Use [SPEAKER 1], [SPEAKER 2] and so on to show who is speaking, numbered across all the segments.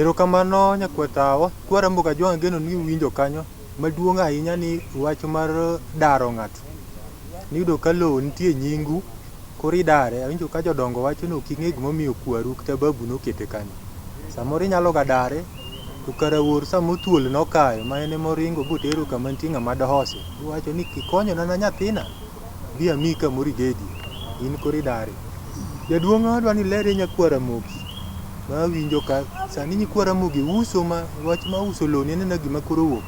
[SPEAKER 1] Erokamano nyakwetawa, kwara Mbogajwang' ageno ni uwinjo kanyo. Maduong' ahinya ni wach mar daro ng'ato. Niyudo ka lowo nitie nyingu, koro idare. Awinjo ka jodongo wacho ni ok ing'e gimomiyo kwaru kata babu nokete kanyo. Samoro inyaloga dare. To kara wuor sama othuol nokayo ma en ema oringo botero kama nitie ng'ama dohose, bowacho ni kikonyona na nyathina, bi amiyi kamoro ibedie. In koro idari. Jaduong' adwa ni iler ne nyakwa Ramogi ma winjo ka. Sani nyikwa Ramogi uso ma wach ma uso loni anena gima koro owuok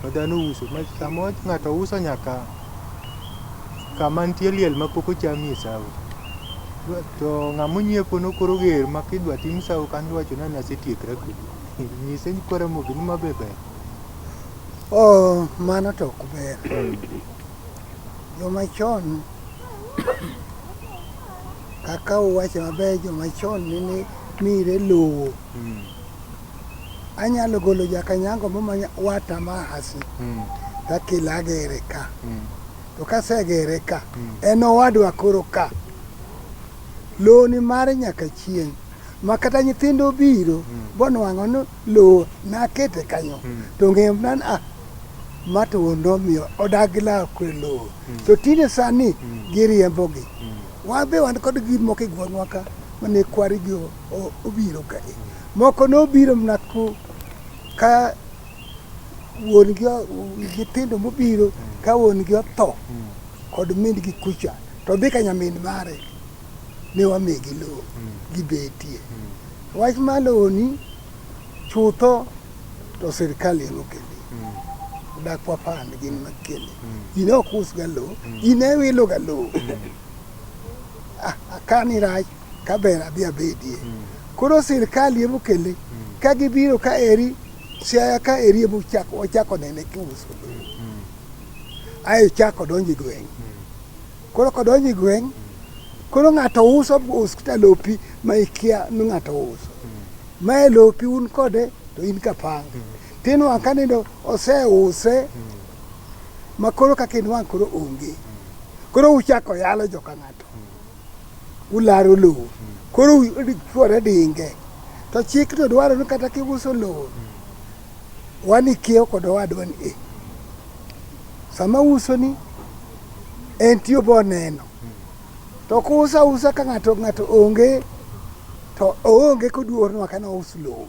[SPEAKER 1] ma dhano uso ma sama ng'ato uso nyaka Kama nitie liel ma pok ochamie sawo. To ng'ama onyiepo no koro oger ma kidwa tim sawo kanyo to wacho ni an asetiekra kodi. Nyise ni kwa Ramogi ni ma be ber. Oh,
[SPEAKER 2] mano to ok ber. Joma chon kaka uwacho maber joma chon nene mire lowo. Mm. Anyalo golo jakanyango momanya wata ma hasi Mm. takilagere ka. Mm. To kasegere ka, en owadwa koro ka. Lowo ni mare nyaka chieng'. Ma kata nyithindo biro, bonwang'o ni lowo nakete kanyo. To ng'em nan a, ma to wuon omiyo odak gi law kwe lowo. To tinde sani giriembogi. Wan be wan kod gik moko e gweng'wa ka mane kwarigi o- o- obiro ka. Moko nobiro mana ku ka wuon gi nyithindo mobiro ka wuon gi otho kod min gi kucha to dhi ka nyamin mare ne wamigi lowo gibetie. Wach ma lowoni chutho to sirkal ema okele dak wapand gin makele ji ne ok usga lowo ji ne wiloga lowo Ah, akani rach kaber adhi abedie koro sirkal ema okele ka gibiro ka eri Siaya ka eri ema ochako wachako nene kiuso. Ae chako donjo e gweng'. Koro kodonjo e gweng' koro ng'ato uso us kata lopi ma ikia ni ng'ato uso. Mae lopi un kode to in kapanga. Tinwang' ka nindo oseuse ma koro kaka inwang' koro onge. Koro uchako yalo joka ng'ato. ularo lowo koro chuore dinge to chik to dwaro ni kata kiuso lowo wan ikiewo kod owadwa ni e sama uso ni en tiyo bo neno to kusa usa ka ng'ato ng'ato onge to oonge koduor nwa kana us lowo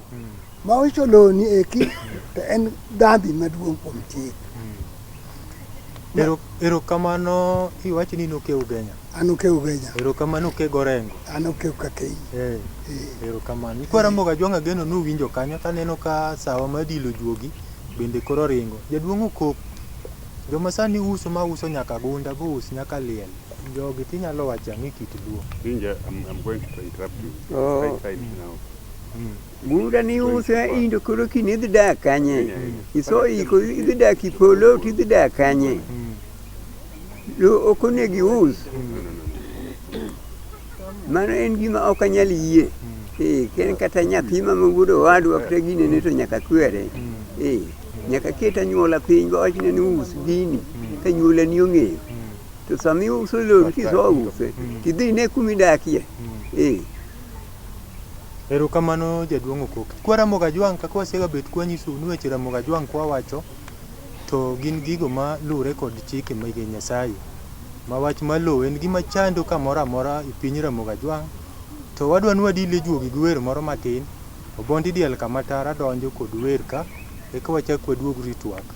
[SPEAKER 2] ma uso lowo ni eki to en dhambi maduong' kuom chik Ero,
[SPEAKER 1] erokamano iwacho ni noke ugenya. An oke ugenya.
[SPEAKER 2] Erokamano oke gorengo.
[SPEAKER 1] An oke ukakei.
[SPEAKER 2] Eh, Eh.
[SPEAKER 1] erokamano. Ikwaramoga jwang' ageno nuwinjo kanyo taneno ka sawa ma dilo juogi bende koro ringo. Jaduong' okok. Joma sani uso ma uso nyaka gunda bous nyaka liel. Jogi tinyalo wacho ang'e kit luo. Inja, I'm, I'm going
[SPEAKER 3] to interrupt you. Oh. Right side now. Mm. Guda
[SPEAKER 4] ni use indo koro kini idhi dak kanye? Iso iko idhi dak ipolo to idhi dak kanye? Lo ok onego ius. Mano en gima ok anyal yie. Eh, ken kata nyathi ma wuod owadwa kata gine ne to nyaka kwere. Eh, nyaka ket anyuola piny go wachne ni us gini ka nyuola ni ong'eyo. To sama iuso lori kiso use, tidhi ine kuma idakie. Eh,
[SPEAKER 1] Erokamano jaduong Okok. Kwa Ramogi Ajwang kaka wasega bet kwa nyisou ni weche Ramogi Ajwang kwa wacho to gin gigo ma luwre kod chike mege Nyasaye. Ma wach ma lowo en gima chando kamoro amora e piny Ramogi Ajwang to wadwa ni wadile juogi gi wer moro matin. Obondi diel kama tara donjo kod wer ka eka wachak waduog ritwak.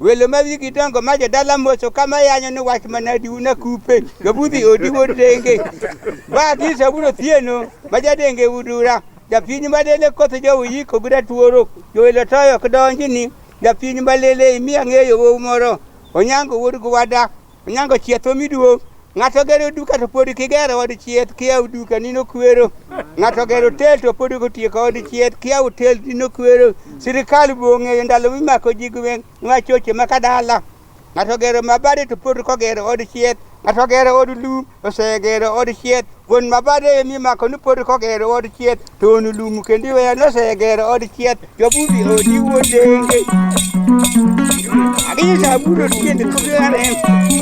[SPEAKER 5] Welo ma wigi dongo ma jodala moso kama yanyo ni wach manadi una kupe jobudhi odi wuod denge ba kisa wudo thieno ma jadenge udura japiny malele koth jowu yiko gi ratuoro jowelo toyo ok donji ni japiny malele imi ang'eyo wowu moro onyango wuod gwada Onyango chieth omi duong'. Ng'ato gero duka to pod kigero od chieth kia duka nino kwero. Ng'ato gero tel to pod kotieko od chieth kia hotel nino kwero. Sirikal bong'eyo ndalo mimako ji gweng' nwa choche ma kadala. Ng'ato gero mabade to pod kogero od chieth. Ng'ato gero od lum osegero od chieth wuon mabade emi mako ni pod kogero od chieth to on lum kendo iweyo ni osegero od chieth jobudi odi wuodenge aginyisa abudo tiend kubiare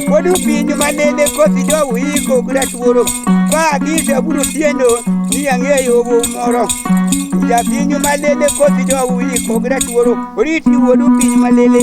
[SPEAKER 5] pod upinyo manene kothi jowu iko gratuoro ba aginyisa abudo tiendo ni ang'eyo obo moro japinyo malele kothi jowu iko gratuoro oriti wuodu piny malele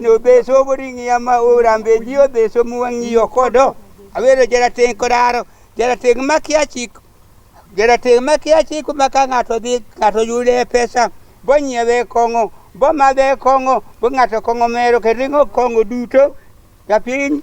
[SPEAKER 5] no beso boringi ama ora mbe dio beso muwangi yokodo awero jara ten kodaro jara ten makia chik jara ten makia chik maka ngato dhi ngato yude pesa bonye be kongo boma be kongo bo ngato kongo mero ke ringo kongo duto kapiny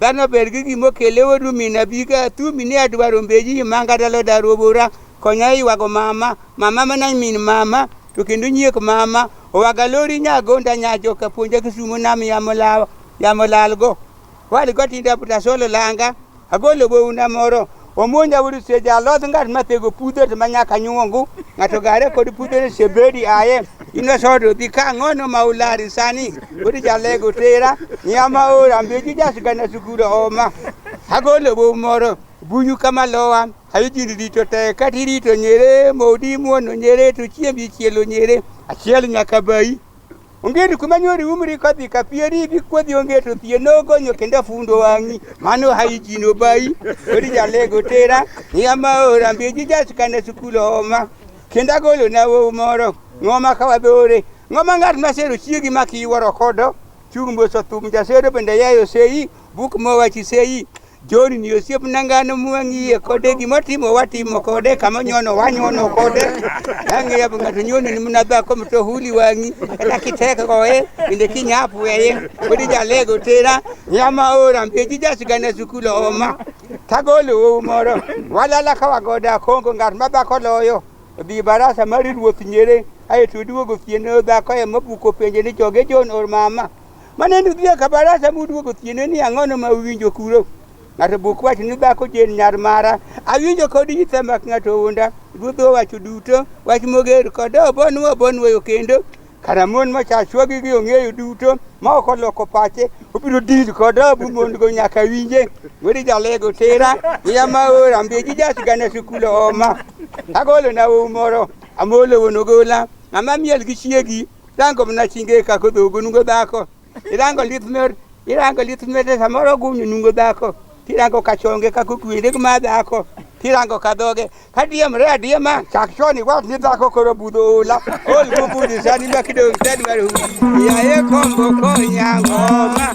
[SPEAKER 5] Dhano ber gi gima okele odu min abika tu mine adwaro mbeji manga dalo daro bora konya ywago mama mama mana min mama to kendo nyiek mama owaga lori nyagonda nyajo kapuonja kisumo nam yamo lawa yamo lalgo wali gotinda buta solo langa agolo bouna moro Omonja wuod Seja, aloth ng'at ma thego pudhe to manyaka nyuongu, ng'ato gare kod pudhe ni Sebedi aye, inosodo dhi ka ng'ono ma ulari sani, wuod jalego tera, nya ma ora mbeji jasgana sukuro oma. Agolo bo moro, bunyu kama lowa, ayo jini rito te, kati rito nyere, modi muono nyere, to chiembi chielo nyere, achiel nyaka bayi. Ongeri kuma nyori umri kodhi ka pieri gi kodhi onge to thie nogonyo kendo afundo wang'i mano hai jino bai ori jalego tera niya maora mbiji jasikane sukul homa kendo agolo na wowu moro ng'oma ka wadhore ng'oma ng'at masero chiegi ma kiwuoro kodo chung' mboso thum jasero bende yayo seyi Buk mowachi sei John ni osiep nangano mwang'iye kode gima timo watimo kode kama nyono wanyono kode yange yabu ng'ato nyono ni mna dhako mto huli wang'i kata kiteka koe bende kinyapu weye kodi jalego tera nyama ora mbeji jasigana sukulo oma tagolo wowu moro walala ka wagoda kongo ng'at ma dhako loyo obi barasa mar ruoth nyere aeto oduogo ofiene dhako ema buko penje ni joge John or mama Maneno dhi ka barasa muduogo tiene ni ang'ono ma uwinjo kuro. Ng'ato buk wach ni dhako jen nyar mara. Awinjo kod yitha mak ng'ato unda. Ruodh owacho duto. Wach moger kod obon obon weyo kendo. Kara mon ma chachwagi gi ong'eyo duto ma ok oloko pache obiro dil kod obu mon go nyaka winje. Weri jalego tera. Iya ma ora mbeji jasgana sukulo oma. Agolo na umoro. Amolo wonogola. Ng'ama miel gi chiegi. Rango mna chinge ka ko dogo nungo dhako. Irango lith mer, irango lith mer samoro gunyo nungo dhako. Tirango ka chonge ka ko kwende ma dhako. Tirango ka dhoge. Ka diem re adiem ma chak choni wat ni dhako koro budho ola. Ol go budho sani ma kidong tadi mar hu. Ya ye kombo ko nyango ma.